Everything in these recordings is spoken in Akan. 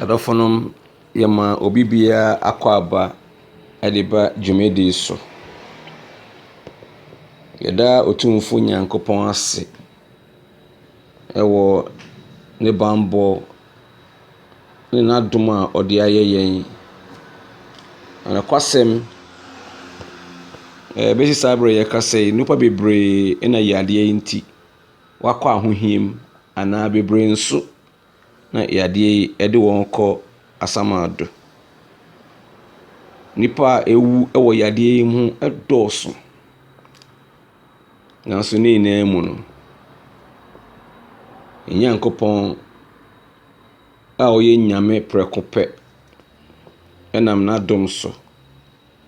Adɔfonom, yɛma obi biara akwaaba de ba dwumadi so. Yɛda Otumfoɔ Nyankopɔn ase wɔ ne bammɔ ne n'adom a ɔde ayɛ yɛn. Na nokwasɛm, ɛbɛsi saa berɛ a yɛreka sɛ yi, nnipa bebree na yadeɛ yi nti, wɔakɔ ahohia mu anaa bebree nso na yadeɛ yi de wɔn rekɔ asamando. Nnipa a ɛwu wɔ yadeɛ yi mu dɔɔso, nanso ne nyinaa mu no, yɛn Nyankopɔn a ɔyɛ Nyame prɛko pɛ nam n'adom so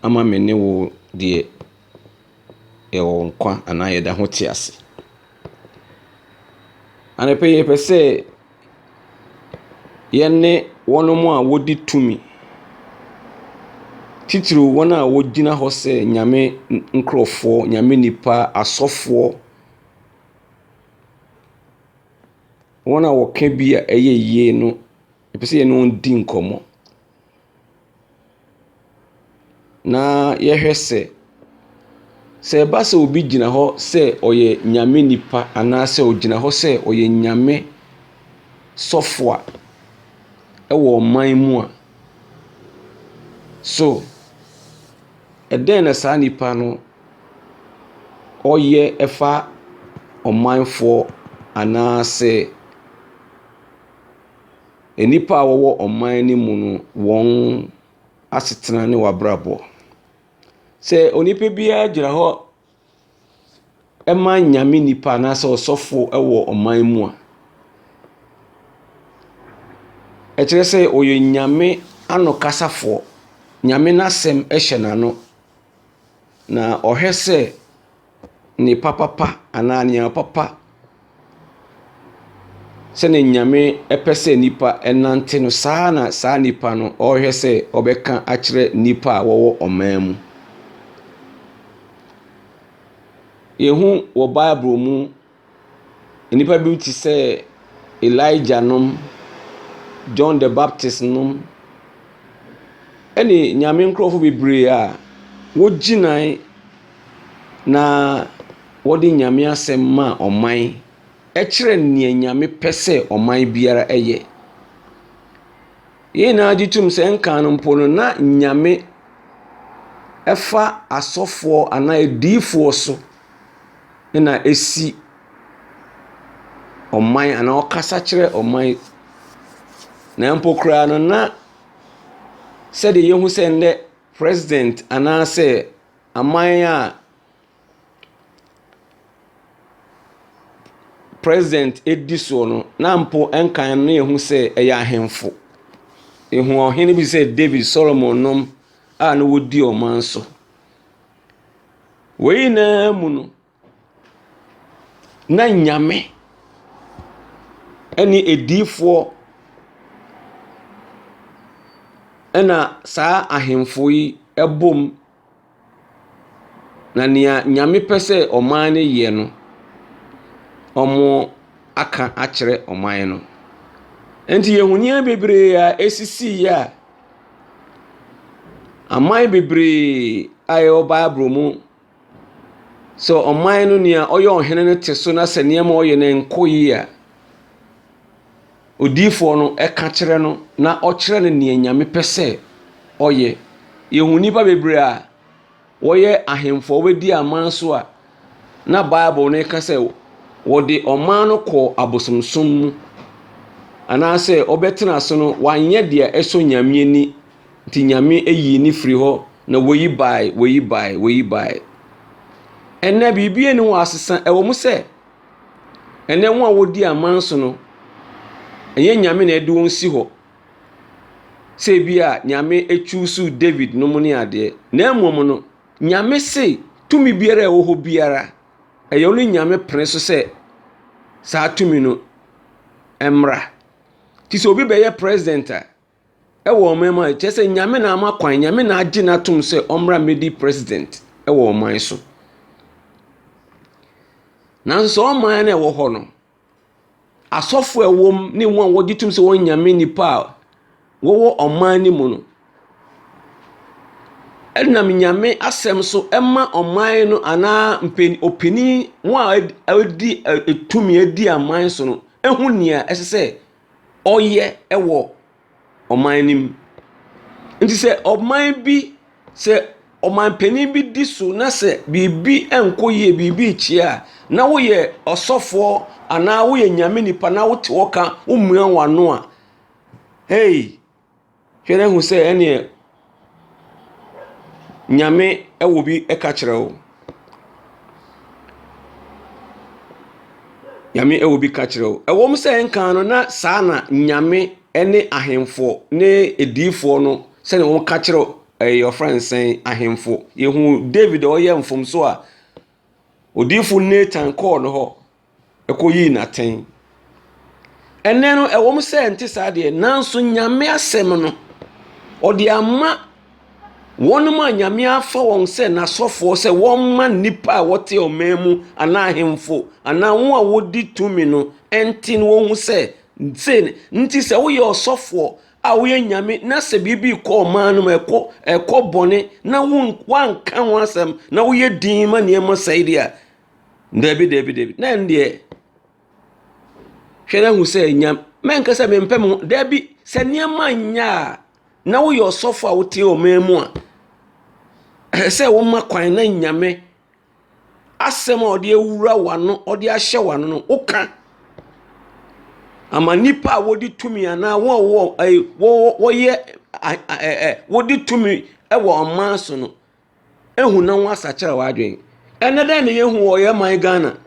ama me ne wo deɛ. yɛwɔ nkwa anaa yɛda ho te ase. Anɔpa yi yɛpɛ sɛ yɛne wɔn a wɔdi tumi, titiriw wɔn a wɔgyina hɔ sɛ Nyame nkorɔfoɔ, Nyame nnipa, asɔfoɔ, wɔn a wɔka bi a ɛyɛ yie no, yɛpɛ sɛ yɛne wɔn di nkɔmmɔ. na yɛhwɛ sɛ, sɛ ɛba sɛ obi gyina hɔ sɛ ɔyɛ Nyame nipa anaasɛ ogyina hɔ sɛ ɔyɛ Nyame sɔfo a, ɛwɔ ɔman mu a, so ɛdɛn na saa nipa no ɔyɛ ɛfa ɔmanfoɔ anaasɛ. Nnipa a wɔwɔ ɔman no mu no wɔn asetena ne w'abrabɔ. Sɛ onipa biara gyina hɔ ma Nyame nipa anaasɛ ɔsɔfo wɔ ɔman mu a, ɛkyerɛ sɛ ɔyɛ Nyame anokasafoɔ. Nyame n'asɛm hyɛ n'ano, na ɔhwɛ sɛ. Nnipa papa anaa nneɛma papa sɛdeɛ Nyame pɛ sɛ nnipa nante no, saa na saa nnipa no ɔrehwɛ sɛ ɔbɛka akyerɛ nnipa a wɔwɔ ɔman mu. Yɛhu wɔ Bible mu Nnipa binom te sɛ Elijah nom, John the Baptist nom, ɛne Nyame nkorɔfo bebree a wogyinae na wɔde Nyame asɛm maa ɔman, ɛkyerɛ nea Nyame pɛ sɛ ɔman biara yɛ. Yɛn nyinaa gye tom sɛ ɛnkan no mpo no na Nyame fa asɔfoɔ anaa adiyifoɔ so. na ɛsi ɔman anaa ɔkasa kyerɛ ɔman. Na mpo koraa no na sɛdeɛ yɛhu sɛ nnɛ president anaasɛ aman a president di soɔ no, na mpo ɛnkan no na yɛhu sɛ ɛyɛ ahemfo. Yɛhu ɔhene bi te sɛ David, Solomon nom a na wɔdi ɔman so. Wei nyinaa mu no, na nyame ne adiyifoɔ na saa ahemfo yi bom, na deɛ nyame pɛ sɛ ɔman no yɛ no, wɔaka akyerɛ ɔman no. Enti, yɛn ahonin bebree a ɛsisiiɛ a. Aman bebree a ɛwɔ Bible mu, sɛ ɔman no nea ɔyɛ ɔhene no te so na sɛ nneɛma a ɔyɛ no nkɔ yie a, odiyifoɔ no ka kyerɛ no na ɔkyerɛ no deɛ Nyame pɛ sɛ ɔyɛ. Yɛhu nnipa bebree a wɔyɛ ahemfo a wɔadi aman so a na Bible no ka sɛ wɔde ɔman no kɔɔ abosomsom mu anaasɛ wɔbɛtena ase no, wɔanyɛ deɛ ɛsɔ Nyame ani nti Nyame ayi ne firi hɔ na wɔyi bae, wɔyi bae, wɔyi bae. Ɛnɛ biribi ani hɔ asesa ɛwɔ mu sɛ ɛnɛ wɔn a wɔdi aman so no ɛnyɛ Nyame na ɛde wɔn si hɔ sɛ ebia Nyame ɛchuusuu David nom ne adeɛ, na mmom no Nyame se tumi biara a ɛwɔ hɔ biara ɛyɛ ɔno Nyame pene so sɛ saa tumi no mmra. Nti sɛ obi bɛyɛ president a ɛwɔ ɔman mu a, kyerɛ sɛ Nyame na ama kwan, Nyame na agye no atom sɛ ɔmmra mmɛdi president ɛwɔ ɔman so. Nanso saa ɔman no a ɛwɔ hɔ no, asɔfo a ɛwɔ mu ne wɔn a wɔgye tom sɛ wɔyɛ Nyame nnipa a wɔwɔ ɔman no mu no nam Nyame asɛm so ma ɔman no anaa mpen ɔpanin wɔn a wɔadi tumi adi aman so no hu nea ɛsɛ sɛ ɔyɛ wɔ . ɔman no mu. Nti sɛ ɔman bi, sɛ ɔmanpanin bi di so na sɛ biribi nkɔ yie, biribi rekyea a, na woyɛ ɔsɔfoɔ anaa woyɛ Nyame nipa na wote hɔ ka, womia w'ano a, hei, hwɛ na hu sɛ ɛnneɛ. Nyame wɔ bi ka kyerɛ wo. Nyame wɔ bi ka kyerɛ wo. Ɛwɔ mu sɛ kan no na saa na Nyame ne ahemfo ne adiyifoɔ no sɛdeɛ wɔka kyerɛ ɛɛ wɔfrɛ no sɛn ahemfo. Yɛhunu Dawid a ɔyɛ mfomsoɔ a, odiyifo Natan kɔɔ ne hɔ. koyii no atɛn. Ɛnnɛ no, ɛwɔ mu sɛ ɛnte saa deɛ, nanso Nyame asɛm no, ɔde ama wɔn a Nyame afa wɔn sɛ n'asɔfoɔ sɛ wɔmma nnipa a wɔte ɔman mu anaa ahemfo anaa wɔn a wɔdi tumi no nte no wɔhu sɛ sei ne nti sɛ woyɛ ɔsɔfoɔ a woyɛ Nyame na sɛ biribi kɔ ɔman no mu ɛkɔ ɛkɔ bɔne na won wanka ho asɛm na woyɛ din ma nneɛma sɛe deɛ a Dabi, dabi, dabi. Na ɛno deɛ, hwɛ na hu sɛ nya mɛnka sɛ mempɛ me ho. Dabi, sɛ nneɛma nyɛ a, na woyɛ ɔsɔfo a wote ɔman mu a, ɛsɛ sɛ woma kwan na nyame asɛm a ɔde awura w'ano, ɔde ahyɛ w'ano no, woka ama nnipa a wɔde tumi anaa wɔn a wɔ ɛyi wɔ wɔyɛ a ɛ ɛ wɔde tumi wɔ ɔman so no. Ahu na wɔasakyera w'adwene. Ɛnɛ dɛn na yɛhu wɔ yɛn man Ghana?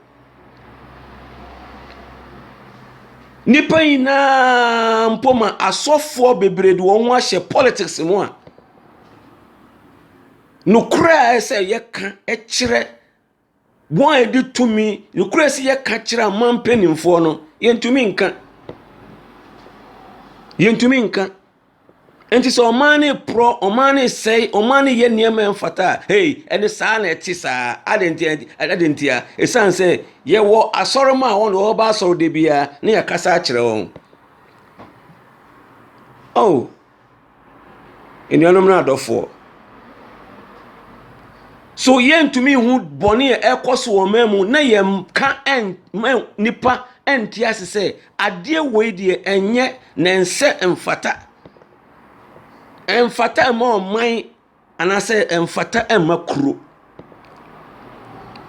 Nnipa nyinaa mpo ma asɔfoɔ bebree de wɔn ho ahyɛ politics mu a, nokorɛ a ɛsɛ sɛ yɛka kyerɛ Wɔn a yɛde tumi, nokorɛ sɛ yɛka kyerɛ aman mpanimfoɔ no, yɛntumi nka. Yɛntumi nka. Nti sɛ ɔman no reporɔ, ɔman no resɛe, ɔman no reyɛ nneɛma a ɛmfata a, hei, ɛne saa na ɛte saa. Adɛn ntia? Adɛn ntia? Ɛsiane sɛ yɛwɔ asɔremma a wɔn de wɔba asɔre da biara na yɛakasa akyerɛ wɔn. Oh. Anuanom ne adɔfoɔ, so yɛntumi nhu bɔne a ɛkɔ so wɔ ɔman mu na yɛnka ɛmma nnipa nte ase sɛ adeɛ wei deɛ ɛnyɛ na ɛnsɛ mfata ɛmfata mma ɔman anaasɛ ɛmfata mma kuro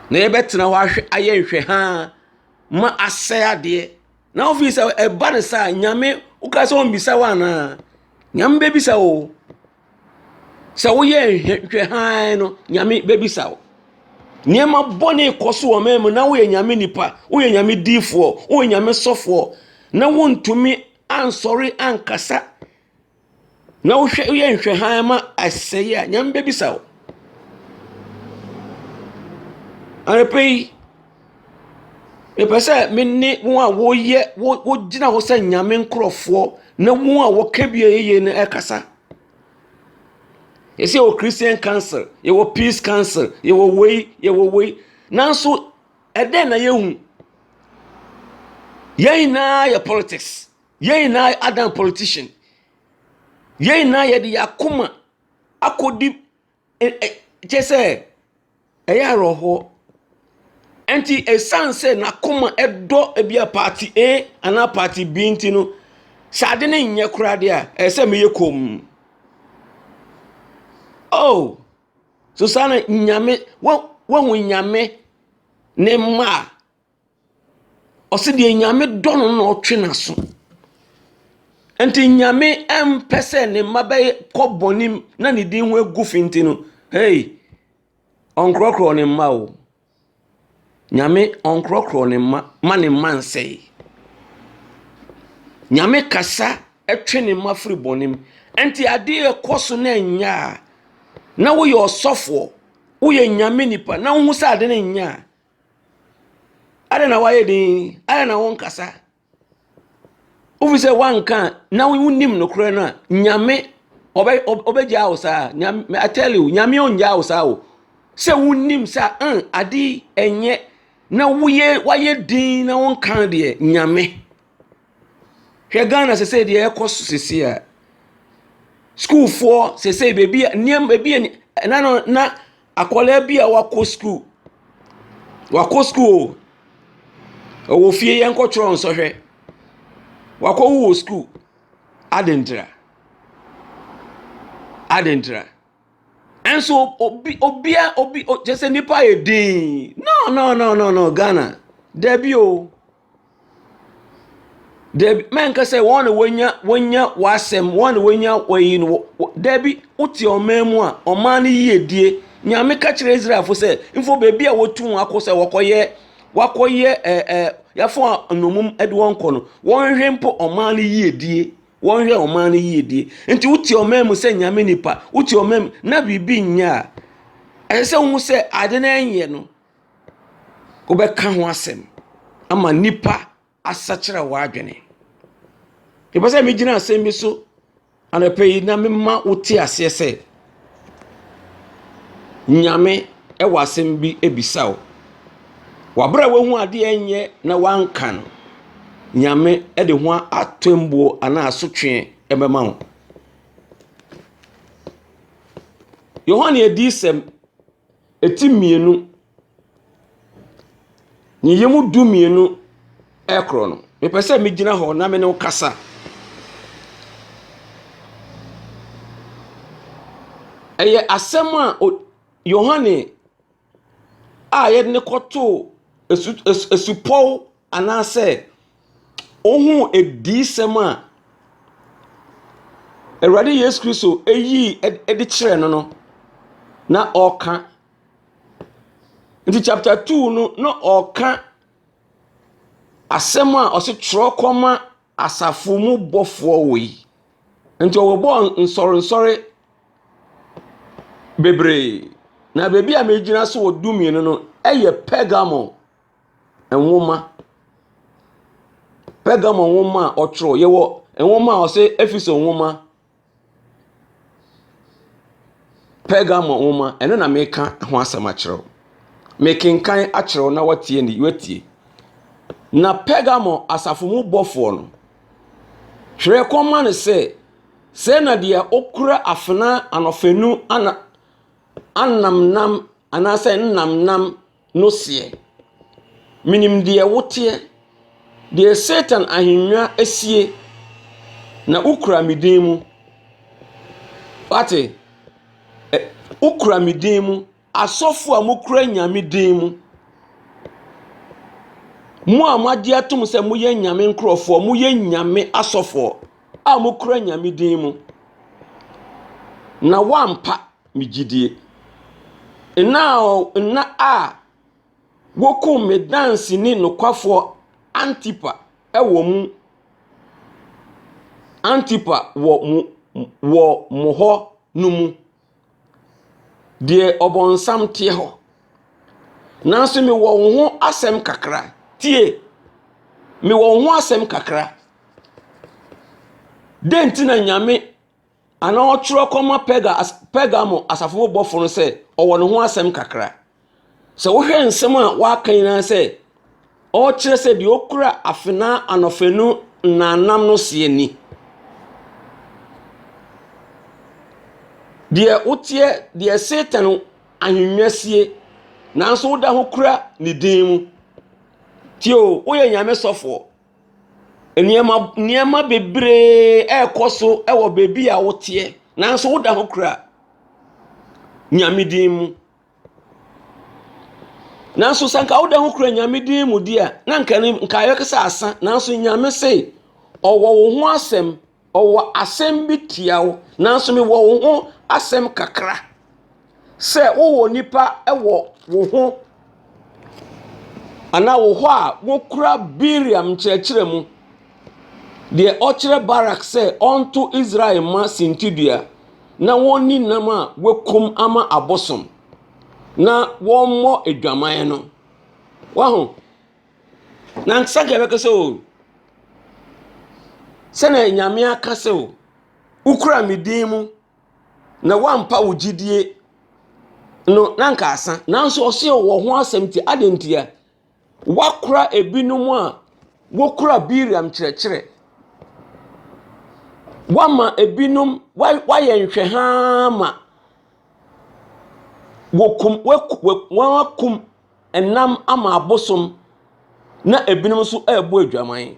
na yɛbɛtena hɔ ayɛ nhwɛhaa ma asɛe adeɛ. Na ofii sɛ ɛba no saa nyame woka sɛ ɔmmisa wo anaa nyame bɛbisa wo sɛ woyɛ nhwɛ hann no nyame bɛbisa wo nneɛma bɔne kɔ so wɔ ɔman mu na woyɛ nyame nipa woyɛ nyame diifoɔ woyɛ nyame sɔfoɔ na wontumi ansɔre ankasa Na wohwɛ woyɛ nhwɛ hann ma asɛe a, Nyame bebisa wo. Anɔpa yi, mepɛ sɛ me ne wɔn a wɔyɛ wo wogyina hɔ sɛ Nyame nkorɔfoɔ ne wɔn a wɔka bia yie no ɛkasa. Yɛsɛ yɛwɔ Christian council, yɛwɔ peace council, yɛwɔ wei, yɛwɔ wei. Nanso ɛdɛn na yɛhu? Yɛn nyinaa yɛ politics. Yɛn nyinaa adan politician. Yɛn nyinaa yɛde yɛn akoma akɔdi kyɛ sɛ ɛyɛ awerɛhoɔ. Ɛnti ɛsiane sɛ n'akoma ɛdɔ ebi a party A anaa party B nti no, sɛ ade no nyɛ koraa deɛ a, ɛsɛ sɛ meyɛ komm. Oh, so saa na nyame, wahu nyame ne mma a Ɔse deɛ Nyame dɔ no na ɔtwe n'aso. Nti Nyame mpɛ sɛ ne mma bɛkɔ bɔne mu na ne din ho agu fi nti no, hei, ɔnkorɔkorɔ ne mma o. Nyame ɔnkorɔkorɔ ne mma ma ne mma nsɛe. Nyame kasa twe ne mma firi bɔne mu. Nti adeɛ ɛkɔ so na ɛnyɛ a, na woyɛ ɔsɔfoɔ, woyɛ Nyame nipa na wohu sɛ ade no nyɛ a, Adɛn na woayɛ dinn? Adɛn na wonkasa? Wofi sɛ woanka a, na wonim nokorɛ no a, Nyame ɔbɛ ɔbɛgyaa wo saa. Nyame I tell you, Nyame ɔngyaa wo saa o. Sɛ wonim sɛ ɛn mm, ade yi ɛnyɛ na woyɛ woayɛ dinn na wonka deɛ Nyame. Hwɛ Ghana sese deɛ ɛkɔ so sese a. Sukuufoɔ sese baabi a nneɛma ebi a na na. Akwadaa bi a wakɔ sukuu. Wakɔ sukuu o. Ɔwɔ fie yɛ nkɔ twerɛ nsɔhwɛ. Wakɔ wu wɔ sukuu. Adɛntira? Adɛntira? Ɛnso obi obia obi kyerɛ sɛ nnipa ayɛ dinn. No no no no no Ghana dabi o. Dabi, mɛnka sɛ wɔn na wɔanya wɔanya w'asɛm, wɔn na wɔanya wɔyi no, dabi, wote ɔman mu a, ɔman no yiedie. Nyame ka kyerɛ Israelfo sɛ, mfo baabi a wɔtu wɔn akɔ sɛ wɔkɔyɛ, wɔakɔyɛ ɛɛ eh, ɛɛ eh, yɛafo nnommum de wɔn kɔ no, wɔnhwɛ mpo ɔman no yiedie. Wɔnhwɛ ɔman no yiedie. Nti wote ɔman mu sɛ Nyame nipa, wote ɔman mu na biribi nyɛ a, ɛsɛ sɛ wohu sɛ ade no ɛnyɛ no. wobɛka ho asɛm ama nnipa asakyera w'adwene. Mepɛ sɛ megyina asɛm bi so anɔpa yi na mema wote aseɛ sɛ Nyame wɔ asɛm bi bisa wo. W'abrɛ a woahu adeɛ nyɛ na wanka no, Nyame de ho atɛmbuo anaa asotweɛ bɛma wo. Yohane adiyisɛm. Ti mmienu, ne yam du mmienu korɔ no, mepɛ sɛ megyina hɔ na me ne wo kasa. Ɛyɛ asɛm a Yohane a wɔde no kɔtoo asu asupɔw. Anaasɛ wohuu adiyisɛm a Awurade Yesu Kristo yii de kyerɛɛ no no na ɔreka. Nti chapter two no na ɔreka asɛm a ɔse twerɛ kɔma asafo mu bɔfoɔ wei. Nti ɔbɔbɔɔ nsɔrensɔre bebree. Na baabi a megyina so wɔ dumienu no yɛ Pergamo. nwoma. Pergamo nwoma a ɔtwerɛ. Yɛwɔ nwoma a ɔsɛ Efeso nwoma. Pergamo nwoma, ɛno na meka ho asɛm akyerɛ wo. Mekenkan akyerɛ wo na woatie ni woatie. Na Pergamo asafo mu bɔfoɔ no, twerɛ kɔma no sɛ, Sɛɛ na deɛ ɔkura afena anɔfanu ana anamnam anaasɛ nnamnam. no seɛ, Menim deɛ woteɛ, deɛ Satan ahennwa sie, na wokura me din mu. Woate? Ɛ, wokura me din mu. Asɔfo a mokura Nyame din mu, mo a moagye atom sɛ moyɛ Nyame nkurɔfoɔ, moyɛ Nyame asɔfoɔ a mokura Nyame din mu, na woampa me gyidie. Nna a ɔ nna a wɔkumm me danseni nokwafoɔ Antipa wɔ mu Antipa wɔ mo wɔ mo hɔ no mu. Deɛ ɔbonsam teɛ hɔ. Nanso mewɔ wo ho asɛm kakra. Tie! Mewɔ wo ho asɛm kakra. Dɛn nti na Nyame Anaa ɔtwerɛ kɔma Perga, Pergamo asafo mu bɔfo no sɛ ɔwɔ ne ho asɛm kakra. Sɛ wohwɛ nsɛm a waka nyinaa sɛ ɔrekyerɛ sɛ deɛ ɔkura afenaa anɔfanu nnamnam no seɛ ni. Deɛ woteɛ, deɛ Satan ahennwa sie, nanso woda ho kura ne din mu. Tio, woyɛ Nyame sɔfoɔ. Nneɛma nneɛma bebree rekɔ so wɔ baabi a woteɛ, nanso woda ho kura Nyame din mu. Nanso sɛ anka woda ho kura Nyame din mu deɛ a, na anka ɛne nka ayɛ sɛ asã. Nanso Nyame se ɔwɔ wo ho asɛm. Ɔwɔ asɛm bi tia wo, nanso mewɔ wo ho asɛm kakra sɛ wowɔ nnipa wɔ wo ho anaa wo hɔ a wokura Biriam nkyerɛkyerɛ mu, deɛ ɔkyerɛ Barak sɛ ɔnto Israel mma sintidua na wɔnni nam a wɔakum ama abosom na wɔmmɔ adwaman no. Waho? Na nkyɛ anka yɛbɛka sɛ o sɛnea nyame aka sɛ o wokura me din mu na woampa wo gyidie no na anka asa nanso ɔse wɔ ho asɛm nti adɛn ntia woakora ebinom a wokura biriam kyerɛkyerɛ woama ebinom woayɛ nhwɛhaa ma wɔkum wɔakum nam ama abosom, na ebinom nso rebɔ adwaman.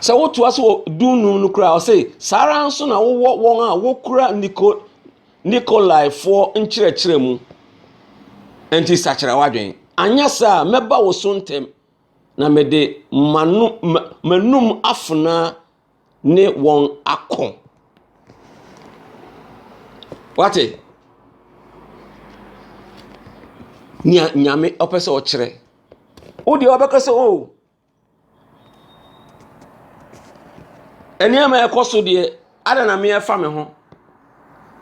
Sɛ wotoa so wɔ du nnum no koraa a, ɔse, saa ara nso na wowɔ wɔn a wokura Niko, Nikolaifoɔ nkyerɛkyerɛ mu. Enti sakyera w'adwene. Anyɛ saa a, mɛba wo so ntɛm, na mede m'ano, ma, m'anum afena ne wɔn ako. Wate? Nea Nyame ɔpɛ sɛ ɔkyerɛ. Wo deɛ ɔbɛka sɛ o. Oh, nneɛma ɛkɔ so deɛ, ada na meɛfa me ho.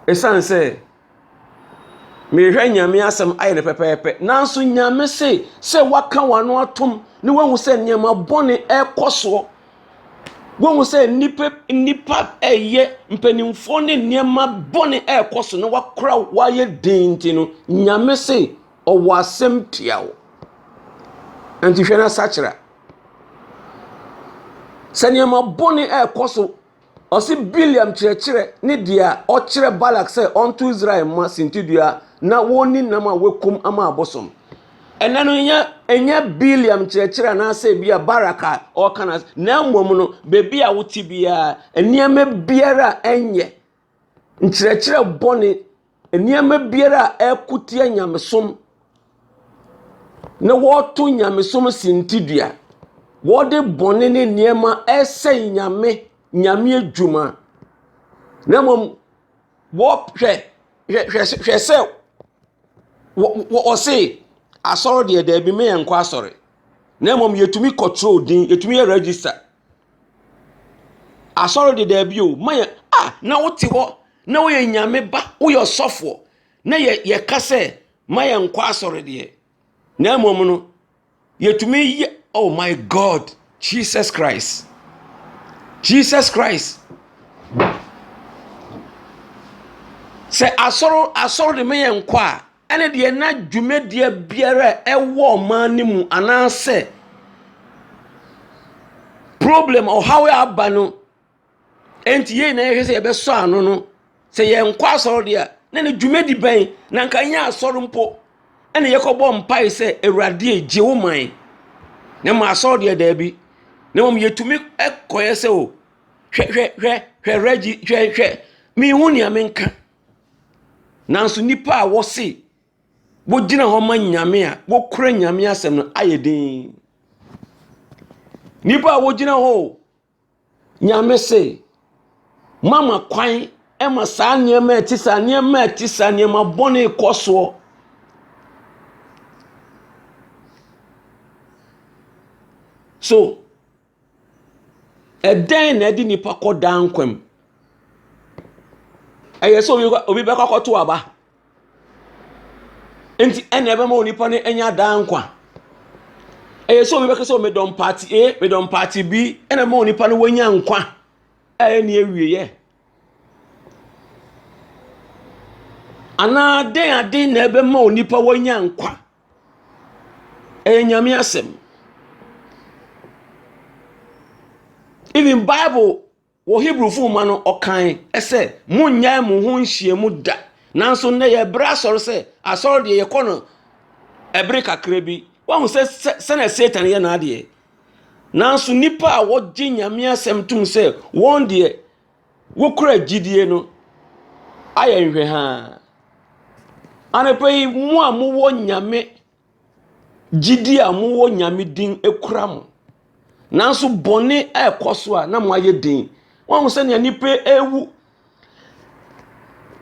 Ɛsiane sɛ. Merehwɛ Nyame asɛm ayɛ no pɛpɛɛpɛ. Nanso Nyame se sɛ woaka w'ano atom na woahu sɛ nneɛma bɔne ɛrekɔ soɔ. Woahu sɛ nnipa nnipa ɛyɛ mpanimfoɔ ne nneɛma bɔne ɛrekɔ so na wakora wayɛ den nti no Nyame se ɔwɔ asɛm tia wo. Nti hwɛ na sakyera. Sɛ nneɛma bɔne ɛrekɔ so. Ɔse Bileam kyerɛkyerɛ ne deɛ a ɔkyerɛ Balak sɛ ɔnto Israel mma sintidua na wɔnni nam a wɔakum ama abosom. Ɛnɛ no nyɛ ɛnyɛ Bileam kyerɛkyerɛ anaasɛ bi a Barak a ɔreka no na mmom no baabi a wote biara nneɛma biara a ɛnyɛ Nkyerɛkyerɛ bɔne, nneɛma biara a ɛko tia nyamesom na wɔto nyamesom sintidua, wɔde bɔne ne nneɛma ɛsɛe nyame, nyame adwuma. Na mmom wɔhwɛ hwɛ hwɛ hwɛ sɛ wɔse asɔre deɛ daabi me yɛnkɔ asɔre. Na mmom yɛtumi kɔtwerɛ din, yɛtumi yɛ register Asɔre de dabi o, ma yɛ a na wote hɔ na woyɛ nyame ba, woyɛ ɔsɔfoɔ na yɛ yɛka sɛ ma yɛnkɔ asɔre deɛ. Na mmom no, yɛtumi yɛ oh my God Jesus Christ, Jesus Christ. Sɛ asɔre asɔre de ma yɛnkɔ a. ɛne deɛ na dwumadie biara a ɛwɔ ɔman no mu anaasɛ problem ɔhaw a aba no nti yɛn nyinaa yɛhwɛ sɛ yɛbɛsɔ ano no sɛ yɛnkɔ asɔre deɛ a na ne dwumadi bɛn na nka nyɛ asɔre mpo ɛna yɛkɔbɔ mpae sɛ awurade gye wo man na ma asɔre deɛ daabi na mmom yɛtumi kɔyɛ sɛ o hwɛ hwɛ hwɛ hwɛ rɛgyi hwɛ hwɛ mehu nea menka Nanso nnipa a wɔse wogyina hɔ ma Nyame a wokura Nyame asɛm no ayɛ den. Nnipa a wogyina hɔ o, Nyame se, mama kwan ma saa nneɛma a ɛte saa, nneɛma a ɛte saa, nneɛma bɔne kɔ soɔ. So Ɛdɛn na ɛde nipa kɔ daa nkwa mu? Ɛyɛ sɛ obi bɛkɔ akɔto aba. Nti ɛna ɛbɛma onipa no anya daa nkwa. Ɛyɛ sɛ obi bɛka sɛ medɔ mpaate A, medɔ mpaate B, ɛna ɛma onipa no wanya nkwa a ɛne awieɛ. Anaa dɛn aden na ɛbɛma onipa wanya nkwa Ɛyɛ Nyame asɛm. Even Bible wɔ Hebrewfo nwoma no ɔkae sɛ monnyae mo ho nhyiam da. Nanso nnɛ yɛbrɛ asɔre sɛ asɔre deɛ yɛkɔ no ɛbere kakra bi. Wahu sɛ sɛ sɛnea Satan yɛ n'adeɛ. Nanso nnipa a wɔgye Nyame asɛm tom sɛ wɔn deɛ wokura gyidie no ayɛ nhwɛhaa. Anɔpa yi, mo a mowɔ Nyame gyidie a mowɔ Nyame din kura mo. Nanso bɔne ɛrekɔ so a na moayɛ den. Wɔahu sɛnea nnipa ɛrewu.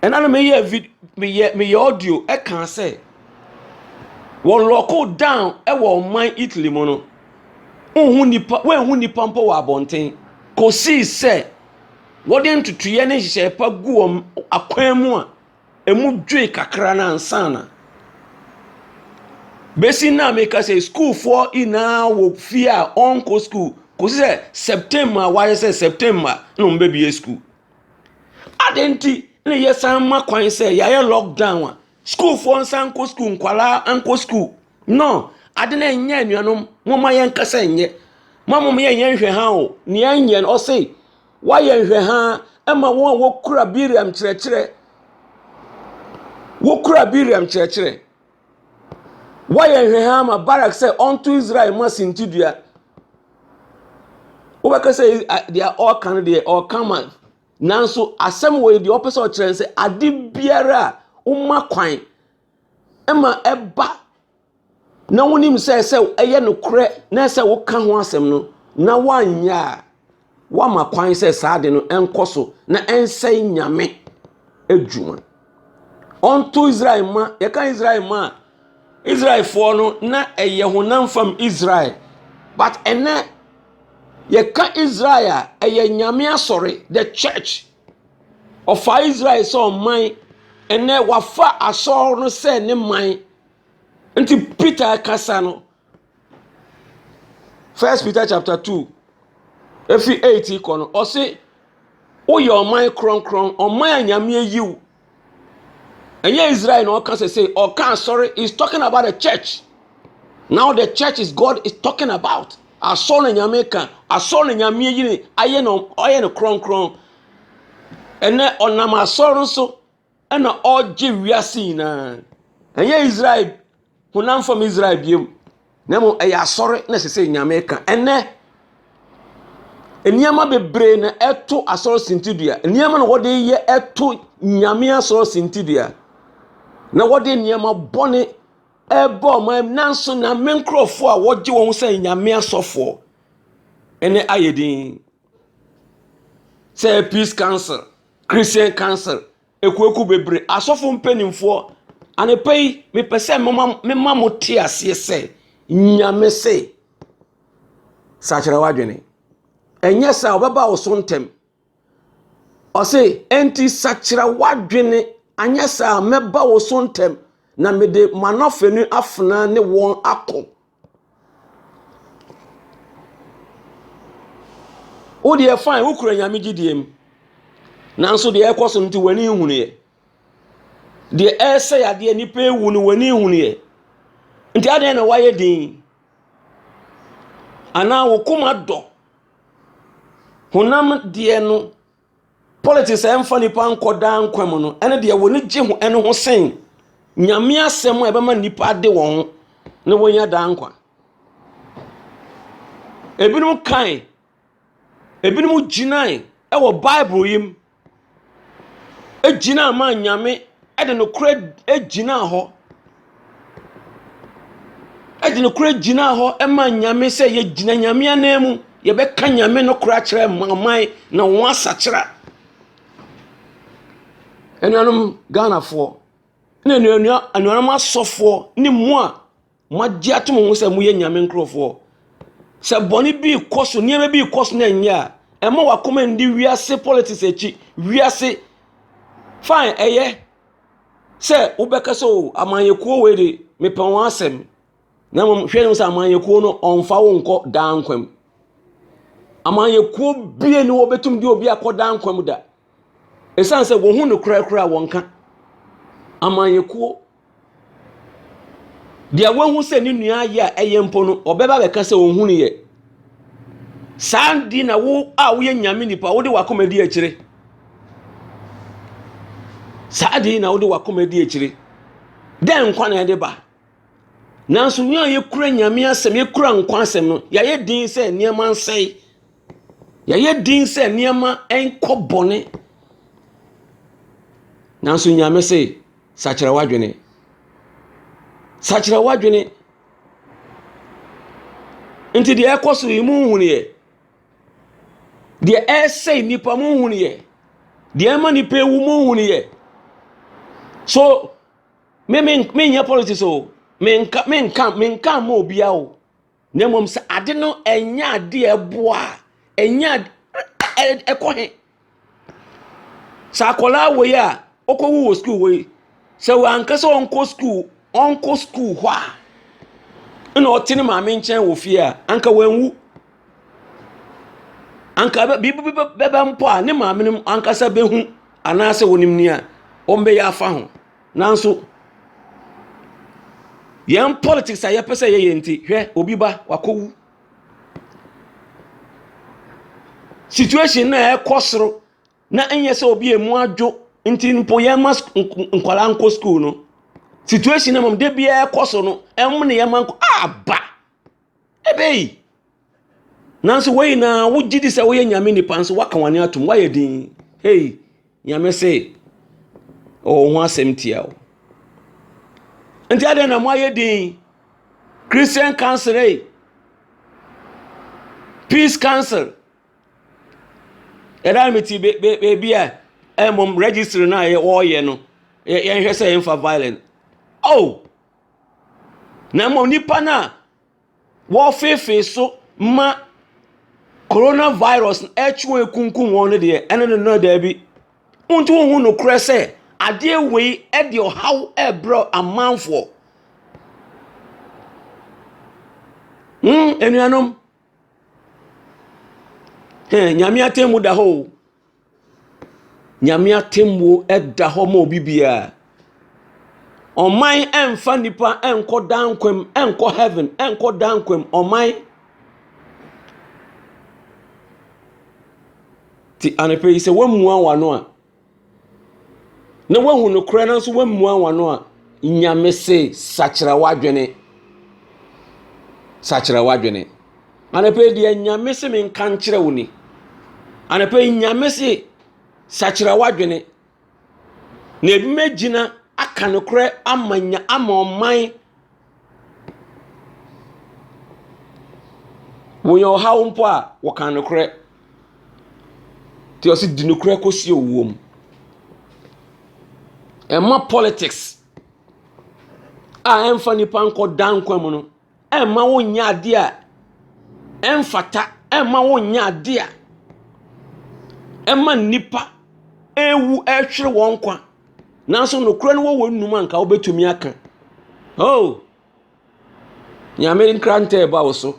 Ɛna no meyɛ vid meyɛ meyɛ audio ɛkaa sɛ wɔlɔko down ɛwɔ ɔman Italy mu no. Wonhu nnipa, woanhu nnipa mpo wɔ abɔnten. Kosii sɛ wɔde ntotoeɛ ne nhyehyɛe pa gu wɔn akwan mu a, emu dwoe kakra no ansa na. Besi nna a meka sɛ sukuufoɔ nyinaa wɔ fie a wɔnkɔ sukuu kɔsi sɛ September a wɔayɛ sɛ September na wɔbɛbue sukuu. Adɛn nti na yɛsan ma kwan sɛ yɛayɛ lockdown a sukuufoɔ nsan nkɔ sukuu, nkwadaa nkɔ sukuu? No, ade no ɛnyɛ anuanom, momma yɛn kasa nyɛ. Mo a mo yɛ yɛn nhwɛha o, nea ɛnyɛ no, ɔse, wayɛ nhwɛha ɛma wɔn a wokura Biriam kyerɛkyerɛ. Wokura Biriam kyerɛkyerɛ. Wayɛ nhwɛha ama Barak sɛ ɔnto Israel ma sintidua. Wobɛka sɛ deɛ ɔreka no deɛ ɔreka ma nanso asɛm wɔ yi deɛ ɔpɛ sɛ ɔkyerɛ sɛ ade biara a woma kwan ma ɛba na wonim sɛ sɛ ɛyɛ nokorɛ na sɛ woka ho asɛm no na woanyɛ a woama kwan sɛ saa de no ɛnkɔ so na ɛnsɛe nyame adwuma ɔnto israel ma yɛka israel ma a israelfoɔ no na ɛyɛ honam fam israel but ɛnɛ yɛka israel a ɛyɛ nyame asɔre the church Ɔfaa Israel sɛ ɔman. Ɛnnɛ wafa asɔr no sɛ ne man. Nti Peter kasa no, First Peter chapter two, efi eight kɔ no, ɔse woyɛ ɔman krɔnkrɔn, ɔman a Nyame eyi wo. Ɛnyɛ Israel na ɔka sɛ sɛ ɔka asɔre is talking about the church. Now the church is God is talking about. Asɔre na nyame ka asɔre na nyame ayi ne ayɛ na ɔyɛ no kronkron. Ɛnɛ ɔnam asɔre so ɛna ɔgye wiase nyinaa. Ɛnyɛ Israel honam fam Israel biem na mmom ɛyɛ asɔre na ɛsɛ sɛ nyame ka ɛnɛ nneɛma bebree na ɛto asɔre sintidua nneɛma na wɔde yɛ ɛto nyame asɔre sintidua na wɔde nneɛma bɔne ɛbɔ ɔman nanso nyame nkurɔfoɔ a wɔgye wɔn sɛ nyame asɔfoɔ ɛnɛ ayɛ din sɛ peace council christian council Akuakuo bebree, asɔfo mpanimfoɔ, anɔpa yi mepɛ sɛ moma mema mo te aseɛ sɛ nyame se sakyera w'adwene ɛnyɛ sɛ ɔbɛba wo so ntɛm ɔse enti sakyera w'adwene anyɛ sɛ a mɛba wo so ntɛm na mede manɔfɛ no afena ne wɔn akɔ Wo deɛ fine, wo kura nyame gyidie mu, nanso deɛ ɛrekɔ so no nti w'ani nhunuiɛ. Deɛ ɛresɛ yadeɛ nnipa ewu no w'ani nhunuiɛ. Nti adɛn na wayɛ din? Anaa wo koma dɔ honam deɛ no Politics a ɛmfa nnipa nkɔ daa nkwa mu no ne deɛ wɔn gye ho ɛno ho sen nyame asɛm a ɛbɛma nnipa ade wɔn ho na wɔnya daa nkwa. Ebinom kan, ebinom gyinae ɛwɔ Bible yi mu, egyina ama nyame ɛde nokorɛ egyina hɔ. de nokorɛ gyinaa hɔ maa Nyame sɛ yɛgyina Nyame ananmu, yɛbɛka Nyame nokorɛ akyerɛ aman na wɔn asakyera. Anuanom Ghanafoɔ ne anuanua anuanom asɔfoɔ ne mo a moagye ato mo ho sɛ moyɛ Nyame nkorɔfoɔ, sɛ bɔne bi rekɔ so, nneɛma bi rekɔ so na ɛnyɛ a, ɛmma w'akoma nni wiase politics akyi, wiase, fine, ɛyɛ. sɛ wobɛka sɛ o amanyɛkuo wei de mepɛ wɔn asɛm na mmom hwɛ no sɛ amanyɛkuo no ɔmfa wo nkɔ daa nkwa mu amanyɛkuo bie ne wɔbɛtum de obi akɔ daa nkwa mu da ɛsiane sɛ wɔhu no korakora a wɔnka amanyɛkuo deɛ wɔahu sɛ ne nua ayɛ a ɛyɛ mpo no ɔbɛba bɛka sɛ ɔnhu no yɛ saa di na wo a woyɛ nyame nipa wode wakoma di akyire Saa ade yi na wode w'akoma di akyire. Dɛn nkwa na ɛde ba? Nanso yɛn a yɛkura nyame asɛm, yɛkura nkwa asɛm no, yɛayɛ din sɛ nneɛma nsɛe. Yɛayɛ din sɛ nneɛma nkɔ bɔne. Nanso nyame se, sakyera w'adwene. Sakyera w'adwene. Nti deɛ ɛkɔ so yi, monhunu yɛ. Deɛ ɛresɛe nnipa mo nhunu yɛ. Deɛ ɛma nnipa ewu mo nhunu yɛ. So me me menyɛ politics o menka menka menka ma obia o na mmom sɛ ade no ɛnyɛ ade a ɛboa ɛnyɛ ade ɛkɔ he. Sɛ akwadaa wei a ɔkɔwu wɔ sukuu wei, sɛ wanka sɛ ɔnkɔ sukuu ɔnkɔ sukuu hɔ a, ɛna ɔte ne maame nkyɛn wɔ fie a, anka wanwu. Anka bɛ biribi bi bɛba mpo a, ne maame no ankasa bɛhu anaasɛ ɔnim deɛ wɔbɛyɛ afa ho. Nanso, yɛn politics a yɛpɛ sɛ yɛyɛ nti, hwɛ obi ba, wakɔwu. situation no a ɛrekɔ soro na ɛnyɛ sɛ obi a emu adwo nti mpo yɛmma sk nk nkwadaa nkɔ sukuu no. Situation no mmom da biara ɛkɔ so no, ɛwom na yɛmma nkɔ ah ba! Ebei! Nanso wei nyinaa wogye di sɛ woyɛ Nyame nipa nso woaka w'ani atom, woayɛ dinn. Ei! Nyame se, Ɔwɔ ho asɛm tia o. Nti adɛn na moayɛ din? Christian Council ei, Peace Council. Ɛda no mete baabi a ɛmmom registry no a wɔreyɛ no yɛnhwɛ sɛ yɛmfa violent. Oh! Na mmom nipa no a wɔfeefee so ma Corona virus no ɛretwe wɔn akunkum wɔn no deɛ, ɛno no no daabi. Wonti wohu nokorɛ sɛ adeɛ wei ɛde ɔhaw ɛrebrɛ amanfoɔ. Hmm, anuanom. Hɛn, Nyame atemmu da hɔ o. Nyame atemmuo da hɔ ma obi biara. Ɔman mfa nnipa nkɔ daa nkwa mu, nkɔ heaven, nkɔ daa nkwa mu. Ɔman. Ti anɔpɛ yi sɛ woamua w'ano a, na woahu nokorɛ no nso woamua w'ano a, Nyame se sakyera w'adwene. Sakyera w'adwene. Anɔpa yi deɛ Nyame se menka nkyerɛ wo ni. Anɔpa yi Nyame se sakyera w'adwene na ebi mɛgyina aka nokorɛ ama nya ama ɔman wɔyɛ ɔhaw mpo a wɔka nokorɛ nti ɔse di nokorɛ kɔsi owuo mu ɛma politics a ɛmfa nipa nkɔ da nkwa mu no ɛmma wonyɛ adeɛ a ɛmfata, ɛmma wonyɛ adeɛ a ɛma nnipa ɛrewu ɛretwere wɔn nkwa. Nanso nokorɛ no wɔ w'anom a nka wobɛtumi aka. Oh! Nyame nkrantɛ ɛba wo so.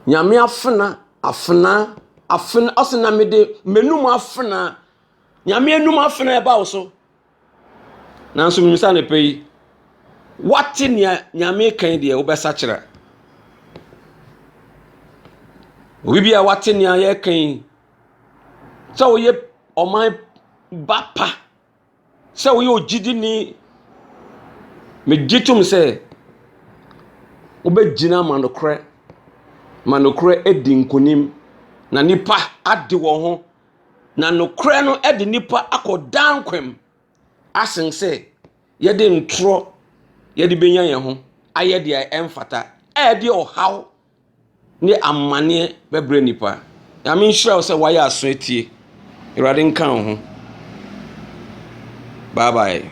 Nyame afena, afena, afena, ɔse na mede m'anom afena. Nyame anom afena ɛba wo so. Nanso menim sɛ anɔpa yi, woate nea Nyame reka yi deɛ, wobɛsakyera. Obi bi a woate nea yɛreka yi, sɛ woyɛ ɔman ba pa, sɛ woyɛ ogyidini, megye tom sɛ wobɛgyina ama nokorɛ, ma nokorɛ adi nkonim, na nnipa ade wɔn ho. Na nokorɛ no de nnipa akɔ daa nkwa mu asen sɛ yɛde ntorɔ yɛde bɛnya yɛn ho ayɛ deɛ ɛmfata a ɛde ɔhaw ne amaneɛ bɛbrɛ nnipa. Nyame nhyira wo sɛ woayɛ aso atie. Awurade nka wo ho. Bye bye.